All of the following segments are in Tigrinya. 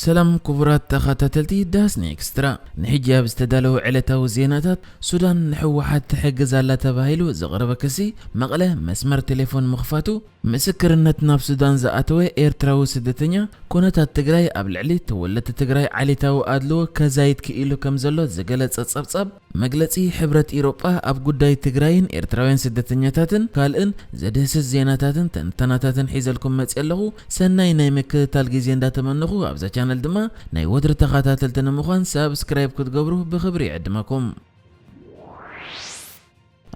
ሰላም ክቡራት ተኸታተልቲ ዳስኒ ኤክስትራ፣ ንሕጂ ኣብ ዝተዳለወ ዕለታዊ ዜናታት፣ ሱዳን ንህወሓት ትሕግዝ ኣላ ተባሂሉ ዝቐረበ ክሲ፣ መቐለ መስመር ቴሌፎን ምኽፋቱ፣ ምስክርነት ናብ ሱዳን ዝኣተወ ኤርትራዊ ስደተኛ፣ ኩነታት ትግራይ ኣብ ልዕሊ ተወለድቲ ትግራይ ዓሌታዊ ኣድልዎ ከዛይድ ክኢሉ ከምዘሎ ዝገለጸ ጸብጻብ፣ መግለጺ ሕብረት ኢሮጳ ኣብ ጉዳይ ትግራይን ኤርትራውያን ስደተኛታትን ካልእን ዘድህስስ ዜናታትን ተንተናታትን ሒዘልኩም መጽየ ኣለኹ ሰናይ ናይ ምክትታል ግዜ እንዳ ተመነኹ ኣብዛ ቻነል ድማ ናይ ወትሪ ተኻታተልቲ ንምዃን ሳብስክራይብ ክትገብሩ ብኽብሪ ይዕድመኩም።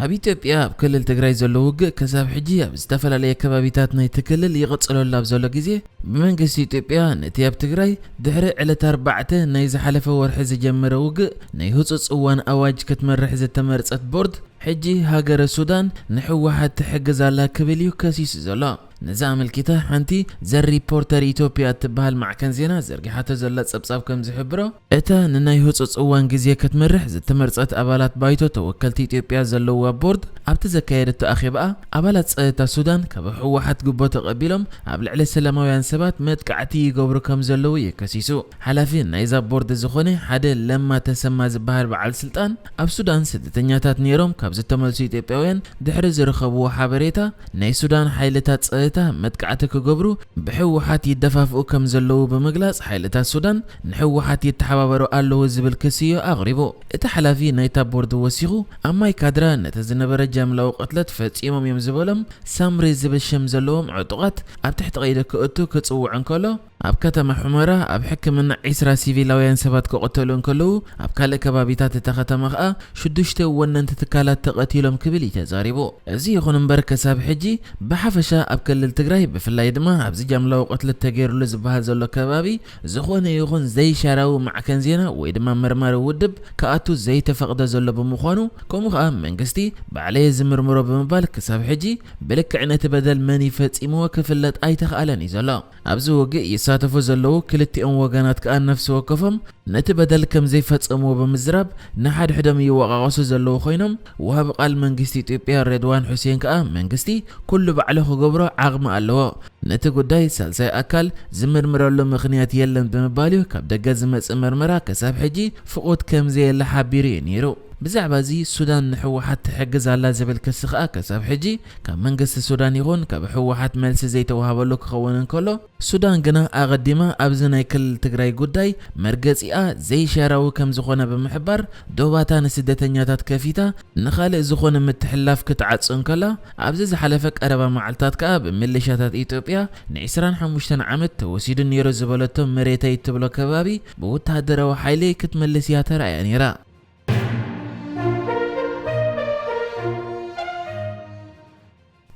ኣብ ኢትዮጵያ ኣብ ክልል ትግራይ ዘሎ ውግእ ክሳብ ሕጂ ኣብ ዝተፈላለየ ከባቢታት ናይቲ ክልል ይቕጽለሉ ኣብ ዘሎ ግዜ፣ ብመንግስቲ ኢትዮጵያ ነቲ ኣብ ትግራይ ድሕሪ ዕለት ኣርባዕተ ናይ ዝሓለፈ ወርሒ ዝጀመረ ውግእ ናይ ህጹጽ እዋን ኣዋጅ ክትመርሕ ዝተመርጸት ቦርድ ሕጂ ሃገረ ሱዳን ንህወሓት ትሕግዝ ኣላ ክብል እዩ ከሲሱ ዘሎ። ነዚ ኣመልኪታ ሓንቲ ዘ ሪፖርተር ኢትዮጵያ እትበሃል ማዕከን ዜና ዘርጊሓቶ ዘላ ጸብጻብ ከም ዝሕብሮ፣ እታ ንናይ ህጹጽ እዋን ግዜ ክትመርሕ ዝተመርጸት ኣባላት ባይቶ ተወከልቲ ኢትዮጵያ ዘለዉዋ ቦርድ ኣብቲ ዘካየደቶ ኣኼባኣ፣ ኣባላት ጸጥታ ሱዳን ካብ ህወሓት ጉቦ ተቐቢሎም ኣብ ልዕሊ ሰላማውያን ሰባት መጥቃዕቲ ይገብሩ ከም ዘለዉ እዩ ከሲሱ። ሓላፊ ናይዛ ቦርድ ዝኾነ ሓደ ለማ ተሰማ ዝበሃል በዓል ስልጣን፣ ኣብ ሱዳን ስደተኛታት ነይሮም ካብ ዝተመልሱ ኢትዮጵያውያን ድሕሪ ዝረኸብዎ ሓበሬታ፣ ናይ ሱዳን ሓይልታት ጸጥታ መጥቃዕቲ ክገብሩ ብህወሓት ይደፋፍኡ ከም ዘለዉ ብምግላጽ ሓይልታት ሱዳን ንህወሓት ይተሓባበሩ ኣለዉ ዝብል ክሲ'ዩ ኣቕሪቡ። እቲ ሓላፊ ናይታ ቦርድ ወሲኹ፣ ኣብ ማይ ካድራ ነቲ ዝነበረ ጃምላዊ ቅትለት ፈጺሞም እዮም ዝበሎም ሳምሪ ዝብል ሽም ዘለዎም ዕጡቓት ኣብ ትሕቲ ቀይዲ ክእቱ ክጽውዕ እንከሎ፣ ኣብ ከተማ ሑመራ ኣብ ሕክምና ዕስራ ሲቪላውያን ሰባት ክቕተሉ እንከለዉ፣ ኣብ ካልእ ከባቢታት እታ ከተማ ከኣ ሽዱሽተ ወነንቲ ትካላት ተቐቲሎም ክብል እዩ ተዛሪቡ። እዚ ይኹን እምበር ከሳብ ሕጂ ብሓፈሻ ኣብ ክልል ትግራይ ብፍላይ ድማ ኣብዚ ጃምላዊ ቅትለት ተገይሩሉ ዝበሃል ዘሎ ከባቢ ዝኾነ ይኹን ዘይሻራዊ ማዕከን ዜና ወይ ድማ መርማሪ ውድብ ክኣቱ ዘይተፈቕደ ዘሎ ብምዃኑ ከምኡ ከኣ መንግስቲ ባዕለየ ዝምርምሮ ብምባል ክሳብ ሕጂ ብልክዕ ነቲ በደል መን እዩ ፈጺምዎ ክፍለጥ ኣይተኽኣለን እዩ ዘሎ። ኣብዚ ውግእ ይሳተፉ ዘለዉ ክልቲኦም ወገናት ከኣ ነፍሲ ወከፎም ነቲ በደል ከም ዘይፈጸምዎ ብምዝራብ ንሓድሕዶም ይወቓቐሱ ዘለዉ ኮይኖም ወሃቢ ቃል መንግስቲ ኢትዮጵያ ሬድዋን ሑሴን ከኣ መንግስቲ ኩሉ ባዕሉ ክገብሮ ዓቕሚ ኣለዎ ነቲ ጉዳይ ሳልሳይ ኣካል ዝምርምረሉ ምኽንያት የለን ብምባል'ዩ ካብ ደገ ዝመጽእ መርመራ ከሳብ ሕጂ ፍቑድ ከም ዘየለ ሓቢሩ'ዩ ነይሩ። ብዛዕባ'ዚ ሱዳን ንህወሓት ትሕግዝ ኣላ ዝብል ክሲ ከኣ ከሳብ ሕጂ ካብ መንግስቲ ሱዳን ይኹን ካብ ህወሓት መልሲ ዘይተዋህበሉ ክኸውን እንከሎ፣ ሱዳን ግና ኣቐዲማ ኣብ'ዚ ናይ ክልል ትግራይ ጉዳይ መርገጺኣ ዘይሻራዊ ከም ዝኾነ ብምሕባር ዶባታ ንስደተኛታት ከፊታ ንኻልእ ዝኾነ ምትሕልላፍ ክትዓጹ እንከላ፣ ኣብዚ ዝሓለፈ ቀረባ መዓልታት ከኣ ብምልሻታት ኢትዮጵያ ንዕስራን ሓሙሽተን ዓመት ተወሲዱ ነይሩ ዝበለቶ መሬተይ እትብሎ ከባቢ ብወተሃደራዊ ሓይሊ ክትምልስ እያ ተራእያ ነይራ።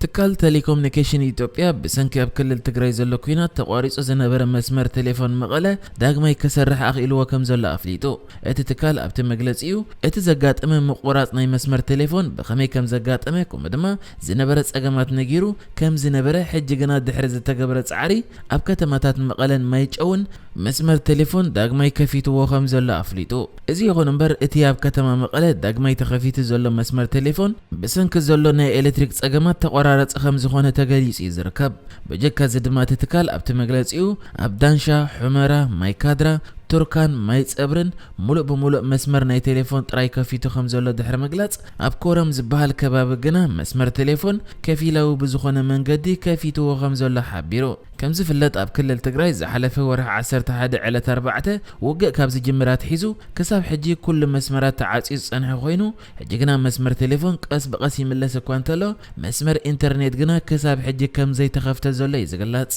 ትካል ተሌኮምኒኬሽን ኢትዮጵያ ብሰንኪ ኣብ ክልል ትግራይ ዘሎ ኲናት ተቋሪፁ ዝነበረ መስመር ቴሌፎን መቐለ ዳግማይ ክሰርሕ ኣኽኢልዎ ከምዘሎ ኣፍሊጡ። እቲ ትካል ኣብቲ መግለጺኡ፣ እቲ ዘጋጠመ ምቑራጽ ናይ መስመር ቴሌፎን ብኸመይ ከም ዘጋጠመ ከምኡ ድማ ዝነበረ ጸገማት ነጊሩ ከም ዝነበረ ሕጂ ግና ድሕሪ ዝተገብረ ጻዕሪ ኣብ ከተማታት መቐለን ማይጨውን መስመር ቴሌፎን ዳግማይ ከፊትዎ ከም ዘሎ ኣፍሊጡ። እዚ ይኹን እምበር እቲ ኣብ ከተማ መቐለ ዳግማይ ተኸፊቱ ዘሎ መስመር ቴሌፎን ብሰንኪ ዘሎ ናይ ኤሌክትሪክ ጸገማት ተቖራረጺ ከም ዝኾነ ተገሊጹ እዩ ዝርከብ። በጀካ እዚ ድማ እቲ ትካል ኣብቲ መግለፂኡ ኣብ ዳንሻ፣ ሑመራ፣ ማይ ካድራ፣ ቱርካን ማይ ፀብርን ሙሉእ ብሙሉእ መስመር ናይ ቴሌፎን ጥራይ ከፊቱ ከምዘሎ ድሕሪ ምግላፅ ኣብ ኮረም ዝበሃል ከባቢ ግና መስመር ቴሌፎን ከፊላዊ ብዝኾነ መንገዲ ከፊትዎ ከምዘሎ ሓቢሩ። ከምዝፍለጥ ኣብ ክልል ትግራይ ዝሓለፈ ወርሒ ዓሰርተ ሓደ ዕለት ኣርባዕተ ውግእ ካብ ዝጅምር ኣትሒዙ ክሳብ ሕጂ ኩሉ መስመራት ተዓፅዩ ዝፀንሐ ኮይኑ ሕጂ ግና መስመር ቴሌፎን ቀስ ብቐስ ይምለስ እኳ እንተሎ፣ መስመር ኢንተርኔት ግና ክሳብ ሕጂ ከም ዘይተኸፍተ ዘሎ እዩ ዝግለጽ።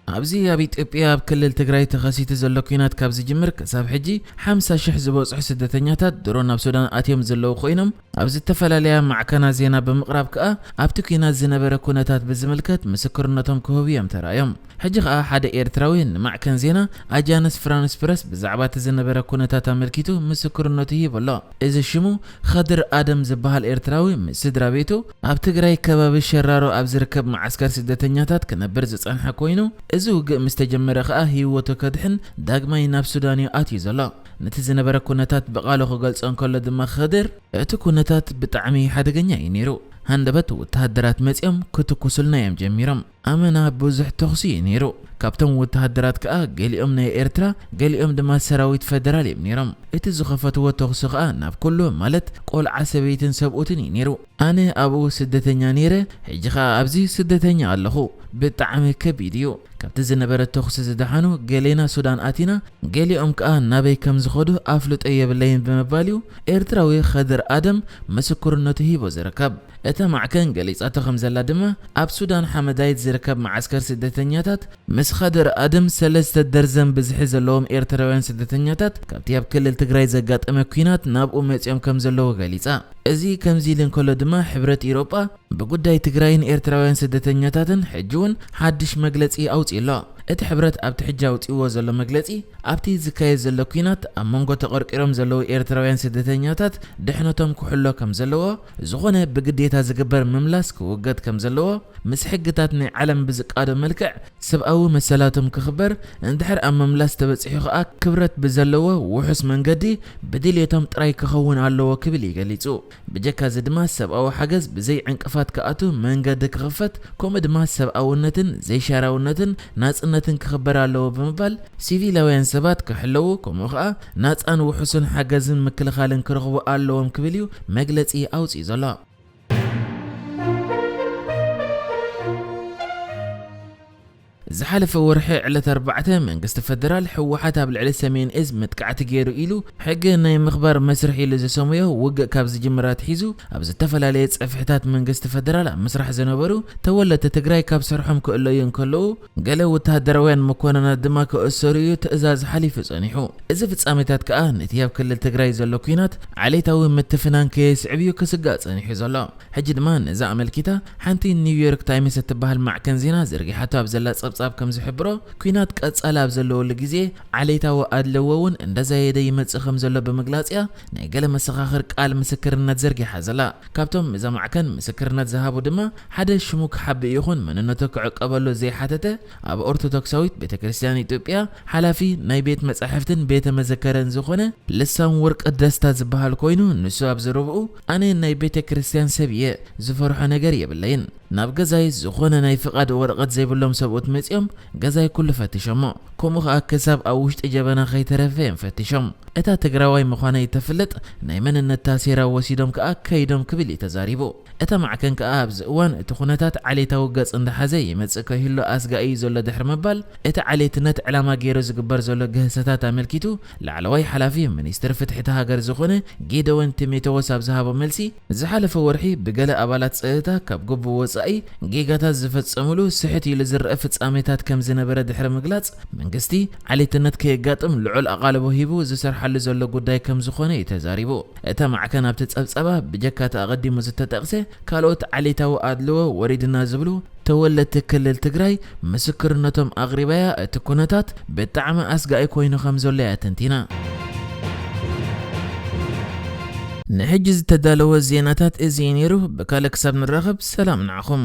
ኣብዚ ኣብ ኢትዮጵያ ኣብ ክልል ትግራይ ተኸሲቱ ዘሎ ኲናት ካብ ዝጅምር ክሳብ ሕጂ ሓምሳ ሽሕ ዝበጽሑ ስደተኛታት ድሮ ናብ ሱዳን ኣትዮም ዘለዉ ኮይኖም፣ ኣብ ዝተፈላለያ ማዕከናት ዜና ብምቕራብ ከኣ ኣብቲ ኲናት ዝነበረ ኩነታት ብዝምልከት ምስክርነቶም ክህቡ እዮም ተራእዮም። ሕጂ ከኣ ሓደ ኤርትራዊ ንማዕከን ዜና ኣጃንስ ፍራንስ ፕረስ ብዛዕባ እቲ ዝነበረ ኩነታት ኣመልኪቱ ምስክርነቱ ሂቡ ኣሎ። እዚ ሽሙ ኸድር ኣደም ዝበሃል ኤርትራዊ ምስ ስድራቤቱ ኣብ ትግራይ ከባቢ ሸራሮ ኣብ ዝርከብ መዓስከር ስደተኛታት ክነብር ዝጸንሐ ኮይኑ እዚ ውግእ ምስ ተጀመረ ከኣ ህይወቱ ከድሕን ዳግማይ ናብ ሱዳን እዩ ኣትዩ ዘሎ። ነቲ ዝነበረ ኩነታት ብቓሉ ክገልጾ እንከሎ ድማ ኽድር፣ እቲ ኩነታት ብጣዕሚ ሓደገኛ እዩ ነይሩ። ሃንደበት ወተሃደራት መጺኦም ክትኩሱልና እዮም ጀሚሮም። ኣመና ብዙሕ ተኹሲ እዩ ነይሩ። ካብቶም ወተሃደራት ከኣ ገሊኦም ናይ ኤርትራ ገሊኦም ድማ ሰራዊት ፈደራል እዮም ነይሮም። እቲ ዝኸፈትዎ ተኹሲ ኸኣ ናብ ኩሉ ማለት ቆልዓ ሰበይትን ሰብኡትን እዩ ነይሩ። ኣነ ኣብኡ ስደተኛ ኔረ ሕጂ ከኣ ኣብዚ ስደተኛ ኣለኹ ብጣዕሚ ከቢድ እዩ ካብቲ ዝነበረ ተኹሲ ዝደሓኑ ገሌና ሱዳን ኣቲና ገሊኦም ከኣ ናበይ ከም ዝኸዱ ኣፍልጦ የብለይን ብምባል እዩ ኤርትራዊ ኸድር ኣደም ምስክርነቱ ሂቡ ዝርከብ እታ ማዕከን ገሊጻቶ ከም ዘላ ድማ ኣብ ሱዳን ሓመዳይት ዝርከብ መዓስከር ስደተኛታት ምስ ኸድር ኣደም ሰለስተ ደርዘን ብዝሒ ዘለዎም ኤርትራውያን ስደተኛታት ካብቲ ኣብ ክልል ትግራይ ዘጋጠመ ኲናት ናብኡ መጺኦም ከም ዘለዉ ገሊጻ። እዚ ከምዚ ኢሉ እንከሎ ድማ ሕብረት ኢሮጳ ብጉዳይ ትግራይን ኤርትራውያን ስደተኛታትን ሕጂ እውን ሓድሽ መግለጺ ኣውጺኡ ኣሎ። እቲ ሕብረት ኣብቲ ሕጂ ኣውጺእዎ ዘሎ መግለጺ ኣብቲ ዝካየድ ዘሎ ኲናት ኣብ መንጎ ተቐርቂሮም ዘለዉ ኤርትራውያን ስደተኛታት ድሕነቶም ክሕሎ ከም ዘለዎ ዝኾነ ብግዴታ ዝግበር ምምላስ ክውገድ ከም ዘለዎ ምስ ሕግታት ናይ ዓለም ብዝቃዶ መልክዕ ሰብኣዊ መሰላቶም ክኽበር እንድሕር ኣብ ምምላስ ተበጺሑ ከኣ ክብረት ብዘለዎ ውሑስ መንገዲ ብድልየቶም ጥራይ ክኸውን ኣለዎ ክብል እዩ ገሊጹ። ብጀካ እዚ ድማ ሰብኣዊ ሓገዝ ብዘይ ዕንቅፋት ክኣቱ መንገዲ ክኽፈት ከምኡ ድማ ሰብኣውነትን ዘይሻራውነትን ናጽነትን ክኽበር ኣለዎ ብምባል ሲቪላውያን ሰባት ክሕለዉ ከምኡ ከኣ ናጻን ውሑስን ሓገዝን ምክልኻልን ክረኽቡ ኣለዎም ክብል እዩ መግለጺ ኣውጺኡ ዘሎ። ዝሓለፈ ወርሒ ዕለት ኣርባዕተ መንግስቲ ፈደራል ህወሓት ኣብ ልዕሊ ሰሜን እዝ መጥቃዕቲ ገይሩ ኢሉ ሕጊ ናይ ምኽባር መስርሕ ኢሉ ዘሰሙዮ ውግእ ካብ ዝጅምር ኣትሒዙ ኣብ ዝተፈላለየ ፀፍሕታት መንግስቲ ፈደራል ኣብ ምስራሕ ዝነበሩ ተወለድቲ ትግራይ ካብ ስርሖም ክእለዩ እንከለዉ ገለ ወተሃደራውያን መኮነናት ድማ ክእሰሩ እዩ ትእዛዝ ሓሊፉ ጸኒሑ። እዚ ፍጻሜታት ከኣ ነቲ ኣብ ክልል ትግራይ ዘሎ ኲናት ዓሌታዊ ምትፍናን ከየስዕብ እዩ ክስጋእ ጸኒሑ ዘሎ። ሕጂ ድማ ነዚ ኣመልኪታ ሓንቲ ኒውዮርክ ታይምስ እትበሃል ማዕከን ዜና ዘርጊሓቶ ኣብ ዘላ ጸብጻብ ከም ዝሕብሮ ኲናት ቀጻሊ ኣብ ዘለወሉ ግዜ ዓሌታዊ ኣድልዎ እውን እንዳዛየደ ይመጽእ ከም ዘሎ ብምግላጽ እያ ናይ ገለ መሰኻኽር ቃል ምስክርነት ዘርጊሓ ዘላ። ካብቶም እዛ ማዕከን ምስክርነት ዝሃቡ ድማ ሓደ ሽሙ ክሓብእ ይኹን መንነቶ ክዕቀበሉ ዘይሓተተ ኣብ ኦርቶዶክሳዊት ቤተክርስትያን ኢትዮጵያ ሓላፊ ናይ ቤት መጻሕፍትን ቤተ መዘከርን ዝኾነ ልሳን ወርቅ ደስታ ዝበሃል ኮይኑ ንሱ ኣብ ዘረብኡ ኣነ ናይ ቤተ ክርስትያን ሰብ እየ ዝፈርሖ ነገር የብለይን ናብ ገዛይ ዝኾነ ናይ ፍቓድ ወረቐት ዘይብሎም ሰብኡት መጺኦም ገዛይ ኩሉ ፈቲሾሞ ከምኡ ከኣ ክሳብ ኣብ ውሽጢ ጀበና ከይተረፈ እዮም ፈቲሾም እታ ትግራዋይ ምዃነይ እተፍልጥ ናይ መንነት ታሴራ ወሲዶም ከኣ ከይዶም ክብል እዩ ተዛሪቡ። እታ ማዕከን ከኣ ኣብዚ እዋን እቲ ኩነታት ዓሌታዊ ገጽ እንዳሓዘ ይመጽእ ከይህሉ ኣስጋኢ እዩ ዘሎ ድሕሪ ምባል እቲ ዓሌትነት ዕላማ ገይሩ ዝግበር ዘሎ ግህሰታት ኣመልኪቱ ላዕለዋይ ሓላፊ ሚኒስትሪ ፍትሒ እታ ሃገር ዝኾነ ጌደዎን ቲሜተዎስ ኣብ ዝሃቦ መልሲ ዝሓለፈ ወርሒ ብገለ ኣባላት ጸጥታ ካብ ግቡእ ወጻኢ ጌጋታት ዝፈጸምሉ ስሕት ኢሉ ዝረኣ ፍጻሜታት ከም ዝነበረ ድሕሪ ምግላጽ መንግስቲ ዓሌትነት ከየጋጥም ልዑል ኣቓልቦ ሂቡ ዝሰርሓሉ ዘሎ ጉዳይ ከም ዝኾነ እዩ ተዛሪቡ። እታ ማዕከን ኣብቲ ጸብጻባ፣ ብጀካ እቲ ኣቐዲሙ ዝተጠቕሰ፣ ካልኦት ዓሌታዊ ኣድልዎ ወሪድና ዝብሉ ተወለድቲ ክልል ትግራይ ምስክርነቶም ኣቕሪባ'ያ፣ እቲ ኩነታት ብጣዕሚ ኣስጋኢ ኮይኑ ከም ዘሎ'ያ ተንቲና። ንሕጂ ዝተዳለወ ዜናታት እዚ'ዩ ነይሩ፣ ብካልእ ክሳብ ንራኸብ ሰላም ንዓኹም።